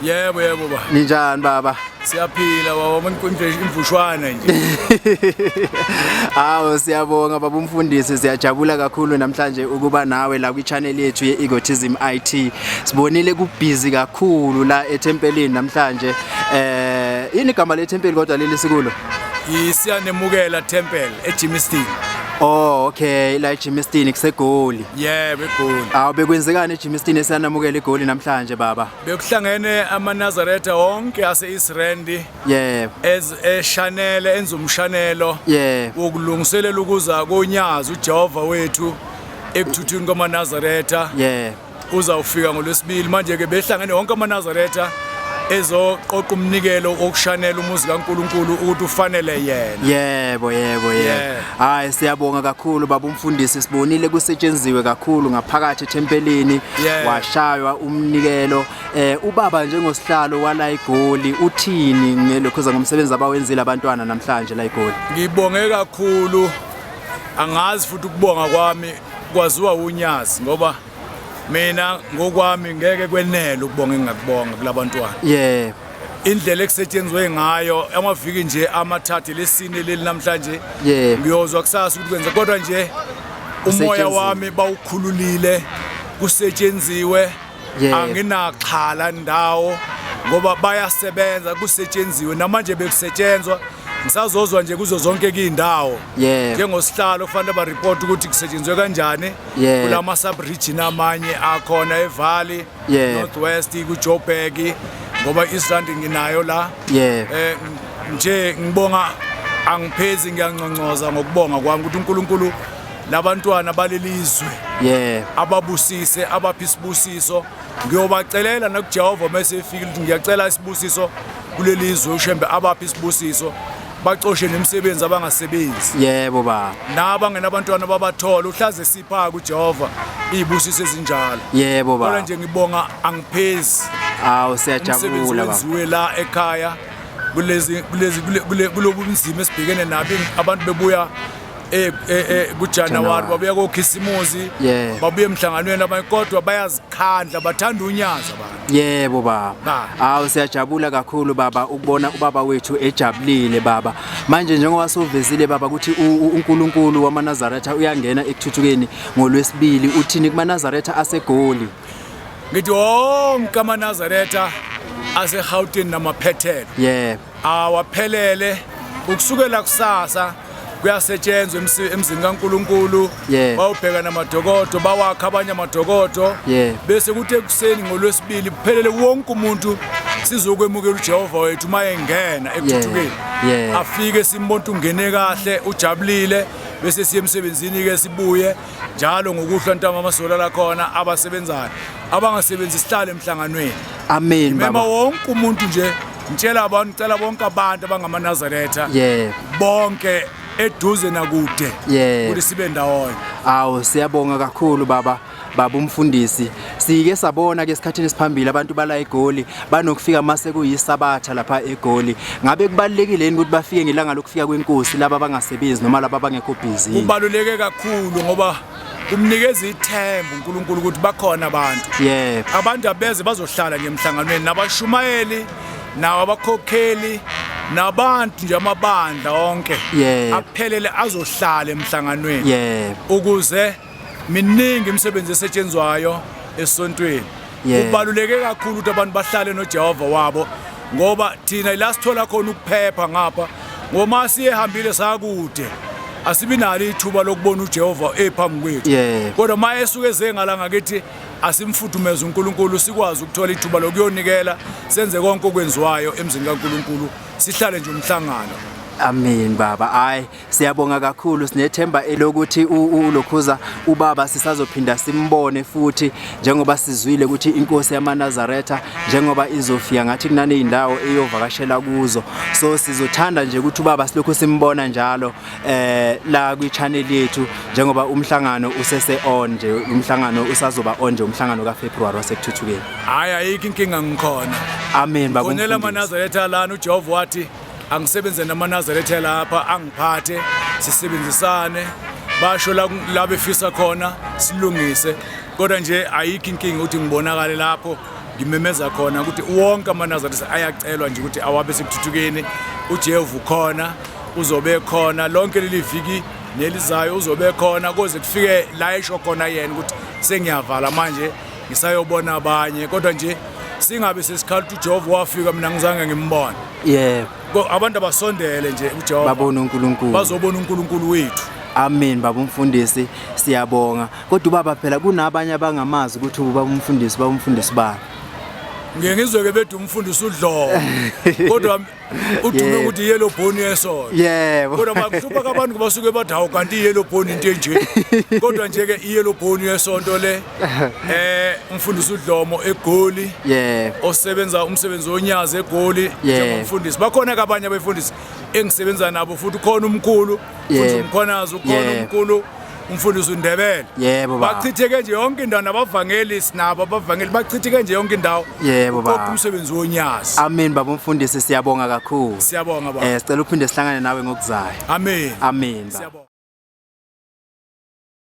Yebo yebo ba. Ninjani baba? Siyaphila baba umuntu imvushwana nje. Hawo siyabonga baba umfundisi siyajabula kakhulu namhlanje ukuba nawe la kwi channel yethu ye Egotism IT. Sibonile kubhizi kakhulu la ethempelini namhlanje. Eh ini igama lethempeli kodwa leli sikulo? Isiyanemukela Temple eJimistini. Oh okay la eGymnastin kusegoli. Yeah begoli. Awu bekwenzekani eGymnastin esanamukela igoli namhlanje baba? Bekuhlangene amaNazaretha wonke aseIsrand. Yeah. Ez eshanele enza umshanelo. Yeah. Wokulungiselela ukuza konyazi uJehova wethu ekuthuthweni kwamaNazaretha. Yeah. uzawufika ngolwesibili manje-ke behlangene wonke amanazaretha ezoqoqa umnikelo wokushanela umuzi kaNkuluNkulu ukuthi ufanele yena yebo yebo yebo hayi siyabonga kakhulu baba umfundisi sibonile kusetshenziwe kakhulu ngaphakathi ethempelini washaywa umnikelo eh ubaba njengosihlalo wala igoli uthini ngelokho zangomsebenzi abawenzile abantwana namhlanje la igoli ngibonge kakhulu angazi futhi ukubonga kwami Kwaziwa uNyazi ngoba mina ngokwami ngeke kwenele ukubonga engingakubonga kulabantwana. Yeah. Indlela ekusetshenzwe ngayo amaviki nje amathathe lesine leli namhlanje. Yeah. Ngiyozwa kusasa ukuthi kwenze kodwa nje umoya wami bawukhululile kusetshenziwe yeah. anginaxhala ndawo ngoba bayasebenza kusetshenziwe namanje bekusetshenzwa ngisazozwa nje kuzo zonke kuyindawo yeah. njengosihlalo kufanele bareport ukuthi kusetshenzwe kanjani yeah. kulama subregion amanye akhona evalley yeah. northwest kujoburg ngoba isrand nginayo la yeah. eh, nje ngibonga angiphezi ngiyanconcoza ngokubonga kwami ukuthi uNkulunkulu labantwana balelizwe yeah ababusise abaphi isibusiso ngiyobacelela nakuJehova mase efika ukuthi ngiyacela isibusiso kulelizwe ushembe abaphi isibusiso bacoshe nemisebenzi abangasebenzi yebo ba naba ngenabantwana babathola uhlaze sipha kuJehova izibusiso ezinjalo yebo ba kodwa nje ngibonga angiphezi awu siyajabula ba wenziwe la ekhaya kulezi kulezi kulobunzima esibhekene nabi abantu bebuya eh, eh, eh, kujanuwari babuya kokhisimuzi yeah. babuye emhlanganweni abanye kodwa bayazikhandla bathanda unyaza abantu yebo baba hawu siyajabula kakhulu baba ukubona ubaba wethu ejabulile baba manje njengoba sovezile baba ukuthi uNkulunkulu wamanazaretha uyangena ekuthuthukeni ngolwesibili uthini kumanazaretha asegoli ngithi wonke amanazaretha aseGauteng namaphethelo yebo awaphelele ukusukela kusasa kuyasetshenzwa emzini kaNkuluNkulu yeah. bawubheka namadokodo bawakha abanye amadokodo yeah. bese kuthi ekuseni ngolwesibili kuphelele wonke umuntu sizokwemukela uJehova wethu uma engena ekuthuthukeni yeah. yeah. afike simbona ungene kahle ujabulile bese siye emsebenzini ke sibuye njalo ngokuhlwa ntamba amasola la khona abasebenzayo abangasebenzi sihlale emhlanganweni amen baba mema wonke umuntu nje ngitshela abantu cela bonke abantu abangamaNazaretha yebo bonke eduze nakude Yebo. ukuthi sibe ndawonye awu siyabonga kakhulu baba baba umfundisi sike sabona ke esikhathini esiphambili abantu bala egoli banokufika mase kuyisabatha lapha egoli ngabe kubalekile yini ukuthi bafike ngelanga lokufika kwenkosi laba abangasebenzi noma laba abangekho busy kubaluleke kakhulu ngoba kumnikeza ithemba uNkulunkulu ukuthi bakhona abantu yebo abantu abeze bazohlala nje emhlanganweni nabashumayeli nawo abakhokheli nabantu nje amabandla onke aphelele azohlala emhlanganweni ukuze miningi imisebenzi esetshenzwayo esontweni yeah. ubaluleke kakhulu ukuthi abantu bahlale noJehova wabo ngoba thina ila sithola khona ukuphepha ngapha ngoma siyehambile sakude asibi nalo ithuba lokubona uJehova ephambi kwethu yeah. kodwa uma esuke ezengala ngakithi asimfudumeze uNkulunkulu sikwazi ukuthola ithuba lokuyonikela senze konke okwenziwayo emzini kaNkulunkulu sihlale nje umhlangano amen baba ay Siyabonga kakhulu sinethemba elokuthi uLokhuza ubaba sisazophinda simbone futhi njengoba sizwile ukuthi inkosi yamaNazaretha njengoba izofika ngathi kunane indawo eyovakashela kuzo so sizothanda nje ukuthi ubaba silokhu simbona njalo eh la kwi channel yethu njengoba umhlangano usese on nje umhlangano usazoba on nje umhlangano ka February wasekuthuthukeni hayi ayikho inkinga ngikhona amen baba ngonela amaNazaretha lana uJehova wathi angisebenze namanazareth lapha angiphathe sisebenzisane basho la befisa khona silungise kodwa nje ayikho inkinga ukuthi ngibonakale lapho ngimemeza khona ukuthi wonke amanazareth ayacelwa nje ukuthi awabe sekuthuthukeni ujehu khona uzobe khona lonke leli viki nelizayo uzobe khona koze kufike la esho khona yena ukuthi sengiyavala manje ngisayobona abanye kodwa nje singabe sesikhala ukuthi uJehova wafika mina ngizange ngimbone yebo Ko- abantu abasondele nje uJehova babone uNkulunkulu bazobona uNkulunkulu wethu amen baba umfundisi siyabonga kodwa ubaba phela kunabanye abangamazi ukuthi ubaba umfundisi baba umfundisi bani ngiye ngizweke bethi umfundisi udlobo kodwa udume Yebo. ukuthi yellow bone yesona Yebo. kodwa makuhlupha kabantu ngoba suke bathi hawu kanti i-yellow bone into enje kodwa nje-ke i-yellow bone yesonto le eh umfundisi udlomo egoli Yebo. osebenza umsebenzi wonyazi egoli Yebo. njengomfundisi bakhona ke abanye abefundisi engisebenza nabo futhi ukhona umkhulu futhi Yebo. umkhonazi ukhona Yebo. umkhulu umfundisi uNdebele yebo baba bachitheke nje yonke indawo nabavangeli sinabo abavangeli bachitheke nje yonke indawo yebo baba kodwa umsebenzi wonyazi amen baba umfundisi siyabonga kakhulu siyabonga baba eh sicela uphinde sihlangane nawe ngokuzayo amen amen baba